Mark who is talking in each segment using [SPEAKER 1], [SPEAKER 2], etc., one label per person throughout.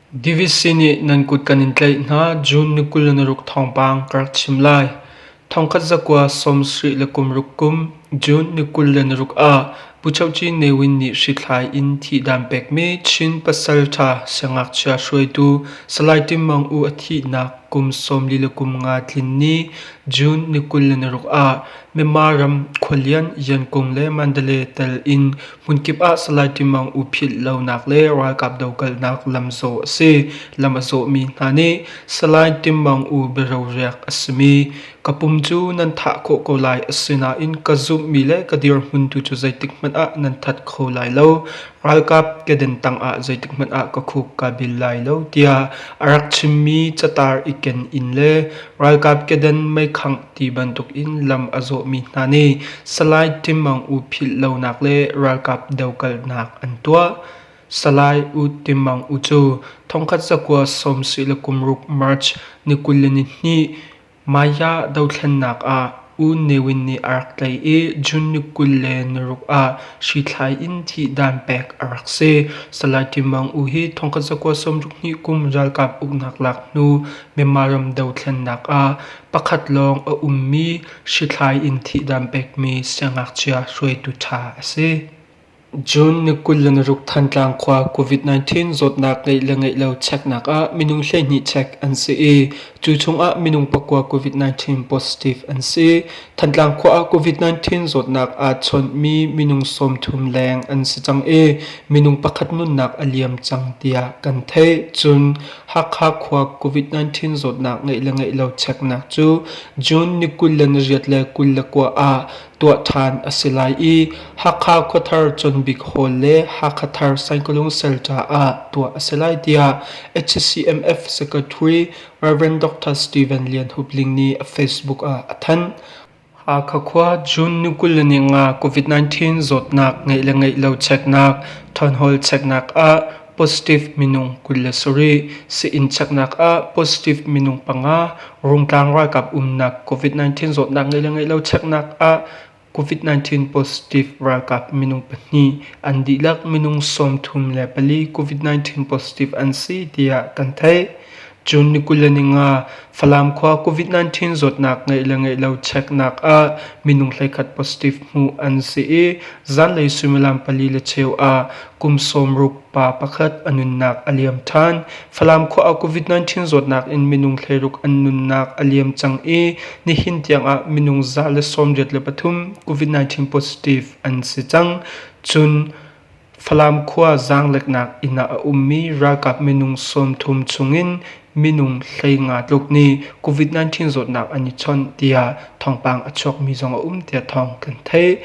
[SPEAKER 1] Divisi nih nan kut kan in tlaih hna June ni kul ni ruk thawngpang ka rak chim lai. Thongkhat zakua sawmsarih le kum ruk kum June ni kul le ni ruk ah Pu Cheu Ci Ne Win nih hrithlai in thihdaan pekmi Chin Pasalṭha Siangngakchia hruaitu Salai Tim Maung U a thihnak kum sawmli le kum nga tlin ni June ni kul le naruk ah Myanmar ram khualian Yankung le Mandalay tel in hmunkip ah Salai Tim Maung U philh lonak le ralkap dokalnak lam zawh a si. Lam a zawhmi hna nih Salai Tim Maung U biaroriak a simi Ka pum cu nan thah khawh ko lai, asinain ka zumhmi le ka dirhmun tu cu zeitikhmanh ah nan that kho lai lo. Ralkap kedan tangah zeitikhmanh ah ka khuk kaa bil lai lo, tiah a rak chimmi catar i ken in le ralkap kedan meikhangh ti bantuk in lam a zawhmi hna nih Salai Tim Aung U philh lonak le ralkap dokalnak an tuah. Salai U Tim Mang U cu thongkhat cakuat sawm sih le kumruk March ni kul le ni hnih Maya dothlennak ah U Ne Win nih a rak tlaih i June ni kul le naruk ah hrithlai in thihdan pek a rak si. Salai Tim Mang U hi thongkhat cakuat sawmruk hnih kum ralkap uknak lak hnu Myanmar ram dothlennak ah pakhat lawng a ummi hrithlai in thihdan pekmi siangngakchia hruaitu ṭha a si. June ni kul le naruk Thantlang khua COVID-19 zawtnak ngeih le ngeih lo cheknak ah minung hleihnih chek an si i cu chungah minung pakua COVID-19 positive an si. Thantlang khua ah COVID-19 zawtnak aa chawnhmi minung sawmthum leng an si cang i minung pakhat nunnak a liam cang tiah kan theih. Cun Hakha khua COVID-19 zawtnak ngeih le ngeih lo cheknak cu June ni kul le nariat le kul le kua ah tuah ṭhan a si lai i Hakha Khuathar Chawnbik Hall le Hakha Thar Sangkawlung Cell caah tuah a si lai tiah HCMF Secretary Rev. Dr. Stephen Lian Hup Ling nih a Facebook ah a thanh. Hakha khua June ni kul ni nga COVID-19 zawtnak ngeih le ngeih lo cheknak, thawnhawl cheknak ah Positive minung kul le sarih sii-inn cheknak ah positive minung panga Rungtlang ralkap umnak COVID-19 zawtnak ngeih le ngeih lo cheknak ah COVID-19 positive ralkap minung pahnih an dihlak minung sawmthum le pali COVID-19 positive an si tiah kan theih. June ni kul le ni nga Falam khua COVID-19 zawtnak ngeih le ngeih lo cheknak ah minung hleikhat positive hmuh an si i zanlei suimilam pali le cheu ah kum sawmruk pa pakhat a nunnak a liam ṭhan. Falam khua ah COVID-19 zawtnak in minung hleiruk an nunnak a liam cang i nihin tiangah minung za le sawmriat le pathum COVID-19 positive an si cang. June Falam khua zaangleknak inn ah a ummi ralkap minung sawmthum chungin minung hleinga tluk nih COVID-19 zawtnak an i chawnh tiah thawngpang a chuakmi zong a um tiah thawng kan theih.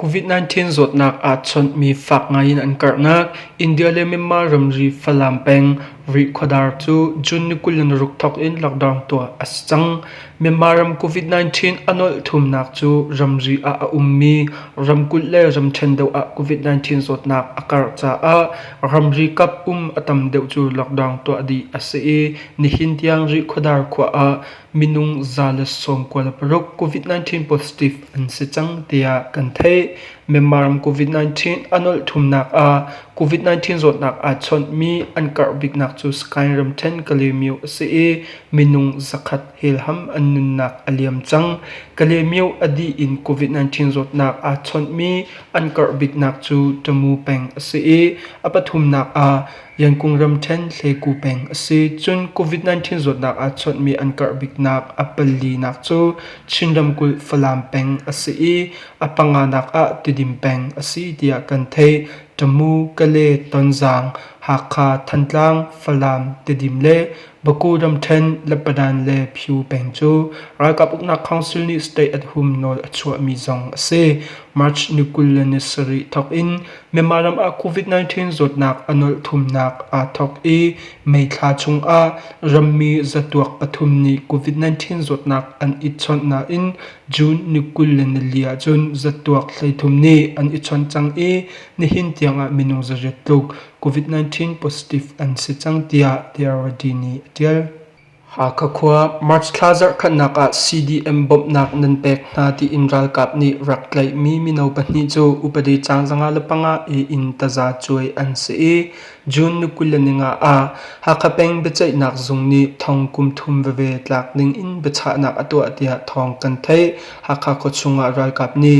[SPEAKER 1] COVID-19 zawtnak aa chawnhmi fak ngai in an karhnak India le Myanmar ramri Falam peng Rih khuadar cu June ni kul in ruk thawk in lockdown tuah a si cang. Myanmar ram COVID-19 a nolh thumnak cu ramri ah a ummi ramkulh le ramṭhen deuh ah COVID-19 zawtnak a karh caah ramri kap um a tam deuh cu lockdown tuah dih a si i nihin tiang Rih Khuadar khua ah minung za le sawm kua le paruk COVID-19 positive an si cang tiah kan theih. Myanmar ram COVID-19 a nolh thumnak ah COVID-19 zawtnak aa chawnhmi an karh biknak cu Sky ramṭhen Kalaymyo a si i Minung zakhat helham an nunnak a liam cang. Kalemyo a dih in COVID-19 zawtnak aa chawnhmi an karh biknak cu Tamu peng a si i a pathumnak ah Yankung ramṭhen Hleku peng a si. Cun COVID-19 zawtnak aa chawnhmi an karh biknak a palinak cu Chin ramkulh Falam peng a si i a panganak ah Tidim peng a si tiah kan theih. Tamu, Kale, Tonzang, Hakha, Thantlang, Falam, Tidim le Baku ramṭhen Lebanon le Pyu peng cu ralkap uknak council nih state at hum nawl a chuahmi zong a si. March ni kul le ni sarih thawk in Myanmar ram ah COVID-19 zawtnak a nawlh thumnak aa thawk i May thla chung ah rammi zatuak pathum nih COVID-19 zawtnak an i chawnh nain June ni kul le nili ahcun zatuak hleithum nih an i chawnh cang i nihin tiang ah minung zariat tluk COVID-19 positive an si cang tiah Diarredi nih a ṭial. Hakha khua March thla zarhkhatnak ah CDM bawmhnak nan pek hna tiin ralkap nih rak tlaihmi mino pahnih cu upadi caan zanga le panga i inn taza cuai an si i June ni kul le ninga ah Hakha peng biaceihnak zung nih thong kum thum veve tlak ding in biachahnak a tuah tiah thawng kan theih. Hakha khuachung ah ralkap nih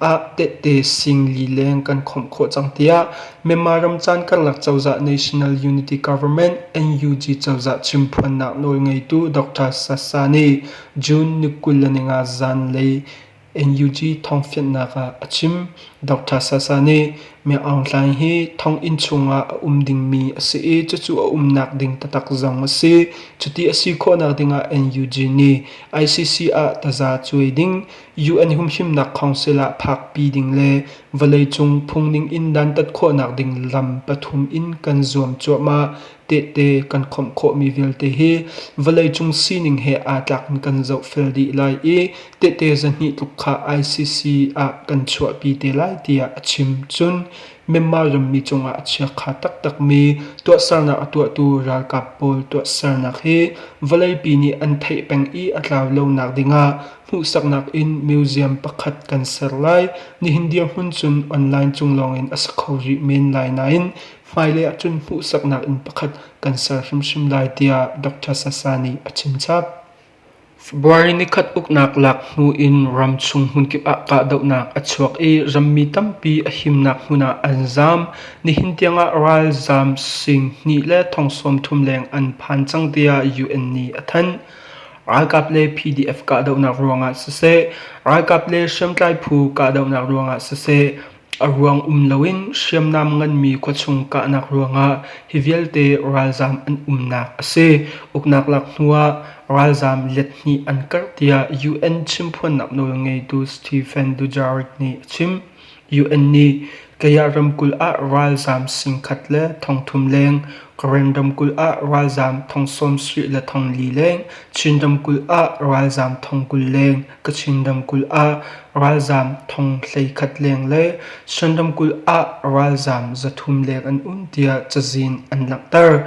[SPEAKER 1] ah tehte sing lileng kan khawmh khawh cang tiah Myanmar ram caan karlak cozah National Unity Government NUG cozah chimphuannak nawlngeitu Dr. Sasa nih June ni kul le ninga zan lei NUG thongfiannak ah a chim. Dr. Sasa nih Myanmar Aung Hlaing hi thonginn chungah a um dingmi a si i cucu a umnak ding taktak zong a si. Cuti a si khawhnak dingah NUG nih ICC ah taza cuai ding UN humhimnak council ah phakpi ding le vawleicung phungning in dantat khawhnak ding lam pathum in kan zuam cuahmah. Tehte kan khawmh khawhmi vialte hi vawleicung sining he aa tlak in kan zohfel dih lai i tehte zahnih tluk kha ICC ah kan chuahpi te lai tiah a chim. Cun Myanmar rammi cungah a chiakha taktakmi tuahsernak a tuahtu ralkap pawl tuahsernak hi vawleipi nih an theih peng i a tlau lonak dingah Hmuhsaknak in museum pakhat kan ser lai. Nihin dirhmun cun online cung lawngin a si kho rih men lai nain hmailei ahcun hmuhsaknak inn pakhat kan ser hrimhrim lai tiah Dr. Sasa nih a chimchap. February nikhat uknak laknu in ram chung hmunkip ah kahdohnak a chuak i rammi tampi a himnak hmun ah an zaam. Nihin tiangah ralzaam sing hnih le thong sawm thum leng an phan cang tiah UN nih a thanh. Ralkap le PDF kahdohnak ruangah siseh, ralkap le hriamtlai phu kahdohnak ruangah siseh, a ruang um loin hriamnam nganmi khuachung kahnak ruangah hi vialte ralzaam an umnak a si. Uknak lak hnuah ralzaam let hnih an karh tiah UN chimphuannak nawlngeitu Stephen Dujarric nih a chim. UN nih Kayah ramkulh ah ralzaam singkhat le thongthum leng, Karen ramkulh ah ralzaam thong sawmsarih le thonglii leng, Chin ramkulh ah ralzaam thong kul leng, Kachin ramkulh ah ralzaam thong hleikhat leng le Shan ramkulh ah ralzaam zathum leng an um tiah cazin an langhter.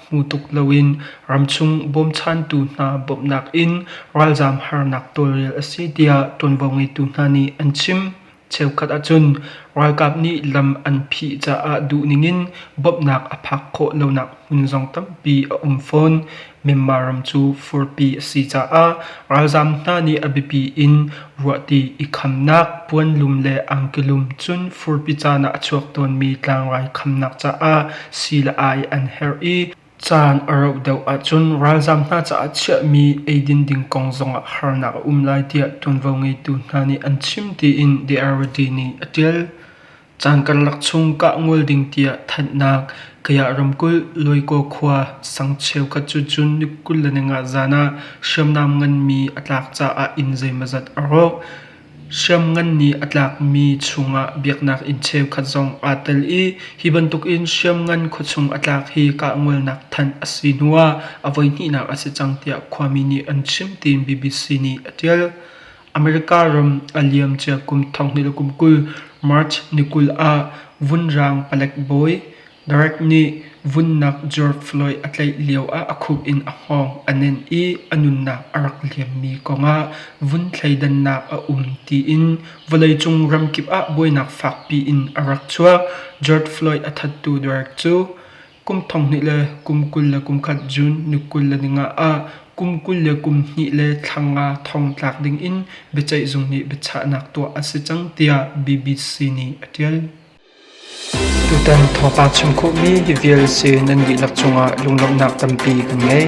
[SPEAKER 1] hmu tuk loin ramchung bawmchantu hna bawmhnak in ralzaam harnak tawlrel a si tiah ṭuanvo ngeitu hna nih an chim. Cheukhat ahcun ralkap nih lam an phih caah duhning in bawmhnak a phak khawh lonak hmun zong tampi a um fawn. Myanmar ram cu furpi a si caah ralzaam hna nih a biapi in Ruahti i khamnak puanlum le angkelum cun furpi caan ah a chuak tawnmi tlangrai khamnak caah sii le ai an herh i caan a rauh deuh ahcun ralzaam hna caah chiahmi eidin ding kong zongah harnak a um lai tiah ṭuanvo ngeitu hna nih an chim tiin The RD nih a ṭial. Caan karlak chung kah ngol ding tiah thanhnak Kayah ramkulh Loikaw khua sang cheukhat cu June ni kul le nawnga zan ah hriamnam nganmi a tlak caah inn zeimazat a rawk. Hriamngan nih a tlakmi chungah biaknak inn cheukhat zong aa tel i hi bantukin hriamngan khuachung a tlak hi kah ngolnak thanh a si hnuah a voihnihnak a si cang tiah khuami nih an chim tiin BBC nih a ṭial. America ram a liam cia kum thong hnih le kum kul March ni kul ah vunrang palek bawi Derek nih vunnak George Floyd a tlaih lio ah a khup in a hngawng a nenh i a nunnak a rak liammi kongah vun thleidannak a um tiin vawleicung ramkip ah buainak fakpi in a rak chuak. George Floyd a thattu Derek cu Kum thong hnih le kum kul le kum khat June ni kul le ni nga ah kum kul le kum hnih le thla nga thong tlak dingin biaceih zung nih biachahnak tuah a si cang tiah BBC nih a ṭial. Tutan thawngpang chim khawhmi vial sin nan dihlak cungah lunglawmhnak tampi kan ngei.